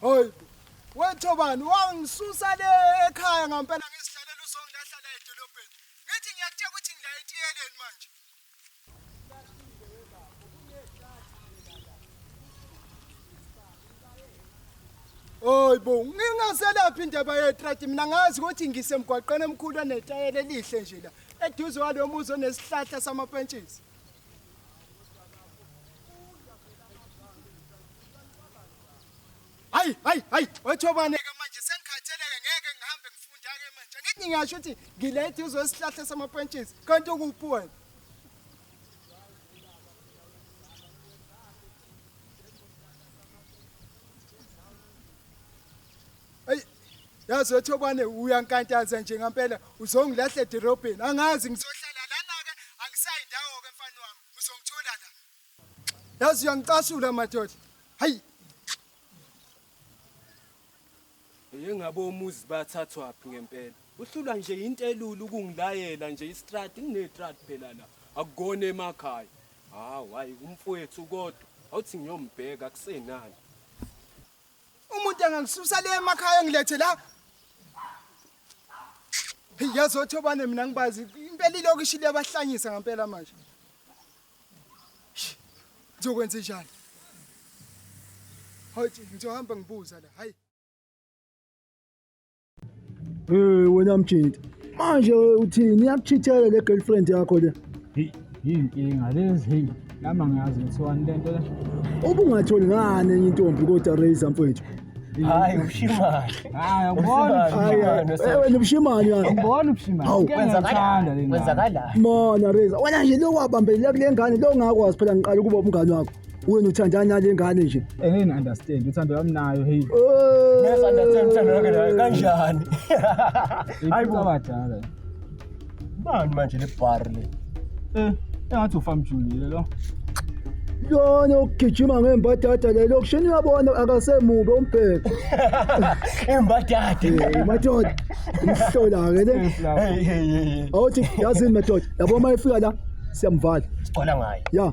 Hoy. Wethobani wangisusa le ekhaya ngampela ngizihlalela uzongilahla la edolobheni. Ngithi ngiyakutshela ukuthi ngila etiyeleni manje. Hoy bo, ngingaselaphi indaba yetrati mina ngazi ukuthi ngisemgwaqeni omkhulu onetayela elihle nje la. eduze walo muzi onesihlahla samapentshisi hayi hayi hayi wethobane-ke manje sengikhatheleke ngeke ngihambe ngifunda-ke manje ngithi ngiyasho ukuthi ngile eduze wesihlahla samapentshisi kanti ukuphi wena Ayi yazi wethobane uyankantanza nje ngampela uzongilahle edorobheni angazi ngizohlala lana-ke angisayi ndawo-ke mfana wami uzongithola la yazi uyangicasula madoda hayi yengabe omuzi bathathwaphi ngempela uhlulwa nje yintelula ukungilayela nje istrati nginetrati phela la akukona emakhaya hawu hayi umfowethu kodwa awuthi ngiyombheka kusenani umuntu angangisusa le emakhaya ngilethe la yazothi obane mina ngibazi impela ilokishi liyabahlanyisa ngempela manje ngizokwenza njani hayi ngizohamba ngibuza la hayi Eh wena mjinti. Manje uthini? Iyakuchithela le girlfriend yakho le. Hey, yinkinga lezi hey. Lama ngiyazi ngithiwani lento la. Ubungatholi ngani enye intombi kodwa Razor mfowethu. Hayi ushimane. Hayi ubona. Hayi eh, wena ushimane yani. Ubona ushimane. Kwenzakala lena. Kwenzakala. Mona Razor. Wena nje lo wabambelela kule ngane lo ngakwazi phela ngiqala ukuba umngane wakho. wena uthandana nale ngane nje engini understand uthando lwami nayo hey yes understand uthando lwakhe nayo kanjani hayi bo badala bani manje le bar le eh engathi ufam Julie lo lona ogijima ngembadada lelo kushini uyabona akasemubi ombheka imbadada madoda umhlola-ke le awuthi yazini madoda yabo uma efika la siyamvala sigcwala ngayo ya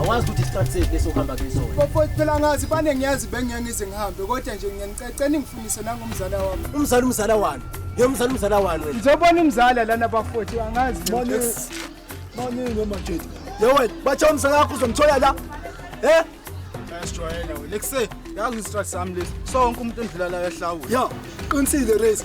awazi ukuthi isikhathi sethu lesokuhamba kusona bafowethu phela ngazi bane ngiyazi bengeke ngize ngihambe kodwa nje ngiyanicecela ningifundise nangomzala wami umzala umzala wani ye umzala umzala wani wena ngizobona umzala lana bafowethu angazi baningi noma jethi ye wena bathe umzala wakho uzomthola la eh ayasijwayela wena lekuse yazi istrike sami lesi sonke umuntu endlula la yahlawula yo qinisile race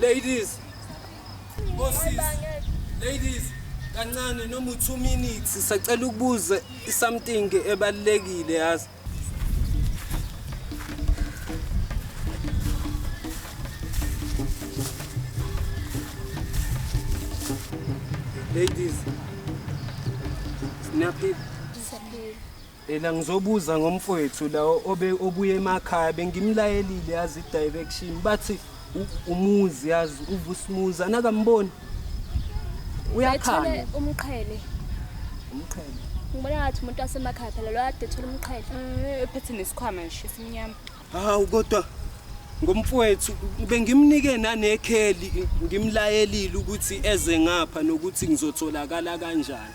Ladies. Bosses. Ladies. Kancane noma u 2 minutes sisacela ukubuza something ebalekile yazi. Ladies. Snappy. Ela ngizobuza ngomfowethu la obe obuye emakhaya bengimlayelile yazi direction bathi u- umuzi yazi uvusimuzi anakamboni uyakhanya umqhele umqhele ngibona ngathi umuntu wasemakhaya phela lo ade thola umqhele Eh, ephethe nesikhwama nje esimnyama hawu kodwa ngomfowethu bengimnike nanekheli ngimlayelile ukuthi eze ngapha nokuthi ngizotholakala kanjani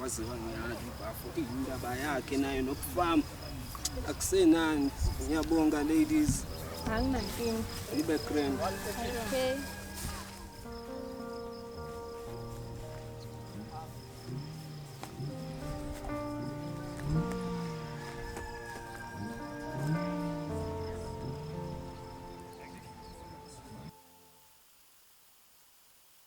waziwa ngiyala ibhafo iyindaba yakhe nayo nokufama akusenani ngiyabonga ladies anginankinga nibe grand okay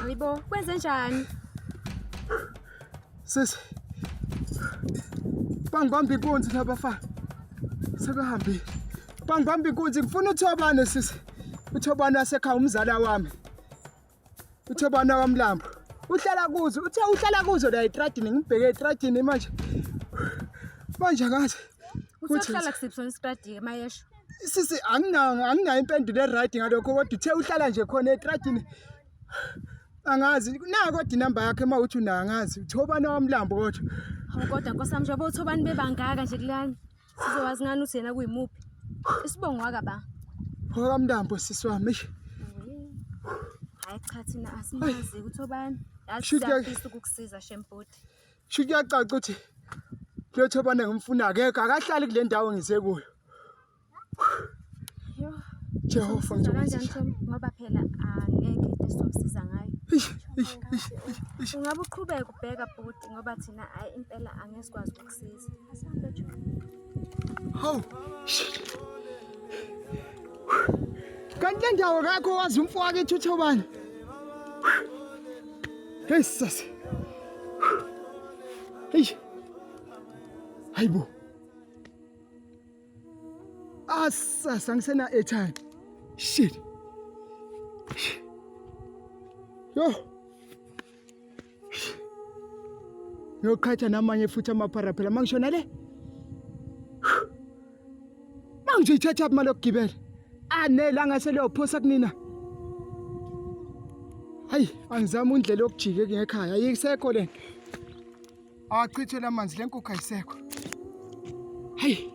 Hayibo, kwenze njani? Sisi. Bangibamba inkunzi laba fa. Sebehambile. Bangibamba inkunzi ngifuna uthobane sisi. Uthobane wasekhaya umzala wami. Uthobane wamlambo. Uhlala kuzo, uthe uhlala kuzo la etradini ngibheke etradini manje. Manje ngathi. Uthi uhlala kusiphi sona istradini mayesho? sisi anginayo impendulo eright ngalokho kodwa uthe uhlala nje khona etradini angazi na kodwa inamba yakhe uma uthi unayo angazi uthobani wamlambo kodwa hawu kodwa nkosami njengoba uthobani bebangaka nje kulani sizowazi ngani uthi yena kuyimuphi isibongo waka ba wakamlambo sisi wami hayi cha thina asimazi ukuthi obani yasiyafisa ukukusiza shempoti sho kuyacaca ukuthi letho bane ngimfuna akekho akahlali kule ndawo ngisekuyo Jehova ngizokwenza ngoba phela angeke into esizomsiza ngayo ungabe uqhubeka ubheka bhuti ngoba thina impela angeke sikwazi ukukusiza Hawu. Kanti le ndawo kakho wazi umfo wake ethuthabana. Hey sisi. Hey. Hayibo. Asasa ngisena airtime. Shit. Yo. Ngiyoqhatha namanye futhi amaphara phela mangishona le. Manje ithatha aphi imali yokugibela? Anele angase leyophosa kunina. Hayi, angizama indlela yokujike ngekhaya. Ayisekho lento. Awachithe lamanzi lenkukhu ayisekho. Hayi.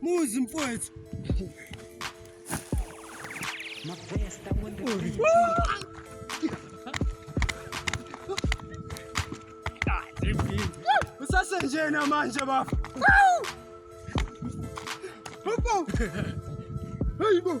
Muzi mfowethu. Usasenjena manje bafo. Hayibo.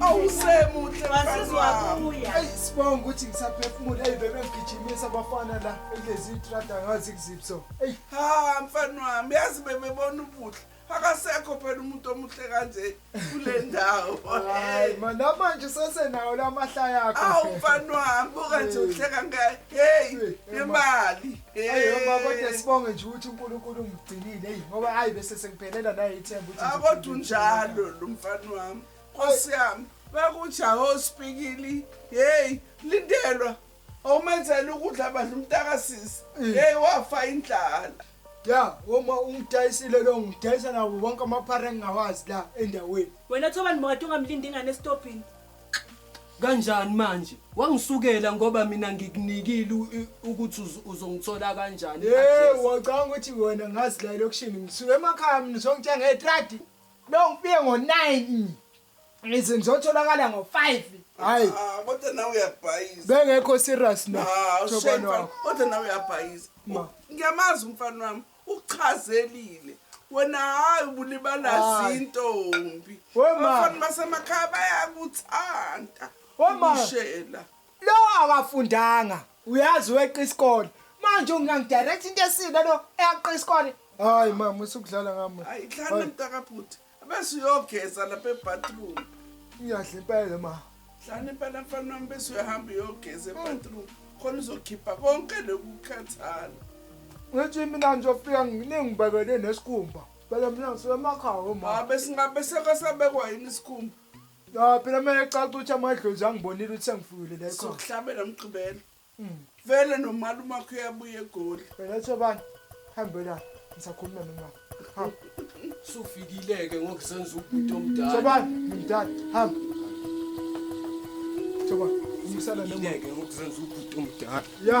awusemuhle sibonga ukuthi ngisaphefumula eyi bebe ngigijimisa abafana la ekulezi itrada ngazi kuzipso eyi ha mfana wami yazi bebebona ubuhle akasekho phela umuntu omuhle kanje kule ndawo hayi ma namanje sesenawo la mahla yakho awu mfana wami buka nje uhleka ngayo heyi nemali Ayoma kodwa sibonge nje ukuthi uNkulunkulu ungigcinile hey ngoba hayi bese sengiphelela naye ithemba ukuthi akodwa unjalo lo mfana wami Nkosi yami bakuja hospikili hey lindelwa awumenzela ukudla bandla umntakasisi mm. hey wafa indlala ya uma ungidayisile lo ngidayisa nabo bonke amaphara engingawazi la endaweni wena thobani mokade ungamlindi ingane esitobhini kanjani manje wangisukela ngoba mina ngikunikile ukuthi uzongithola kanjani hey wacanga ukuthi wena ngazi la elokishini ngisuke emakhaya mina songithenga ngetradi lo ngifike ngo-9 ngize ngizotholakala ngo-5 hayi ah, ah, kodwa nawe uyabhayiza bengekho serious no ah, kodwa nawe uyabhayiza ngiyamazi umfana wami uchazelile wena hayi ubulibala Hayi. zintombi We ma. abafana basemakhaya bayakuthanda We ma. ukushela lo akafundanga uyazi weqa isikole manje ungangidirect into esile lo eyaqa isikole hayi mama usukudlala ngami Hayi, dlala mntakabhuti. bese uyogeza lapha ebathroom ngiyahle impela ma hlani impela mfana wami bese uyahamba uyogeza ebathroom khona uzokhipha konke lokukhathala ngithi mina ngizofika ngilengibekele nesikhumba phela mina ngisemakhaya ma ah, besingabe sekasabekwa yini isikhumba ya phela kumele caca ukuthi amadlozi angibonile ukuthi sengifikile la ekhona sokuhlabela mgqibelo vele nomali umakho uyabuya egoli wena uthi obani hambe la ngisakhuluma nomama hamba sufikile-ke ngoku senza ubhuti omdala sobani ngimdala hamba soba umsana noma Fikile-ke ngoku senza ubhuti omdala ya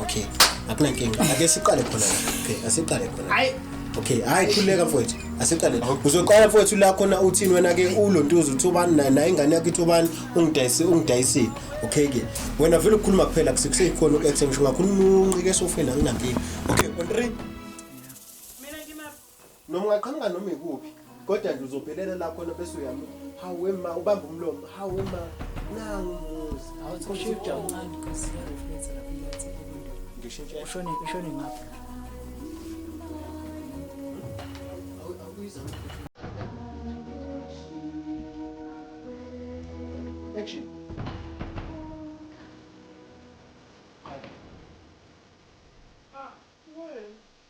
okay akunankinga ake siqale khona okay asiqale khona hayi okay hayi khuleka mfowethu asiqale uzoqala mfowethu la khona uthini wena ke ulontuza uthi ubani naye naye ingane yakhe ithi ubani ungidayise ungidayisile okay ke wena vele ukukhuluma kuphela kusekusekhona uku-action ngisho ngakhuluma unqike esofeni anginankinga okay on three noma ungaqhamuka noma ikuphi kodwa nje uzophelela la khona bese uyami hawu wema ubamba umlomo hawu wema nangu umuzi ushone ushone ngapha Action.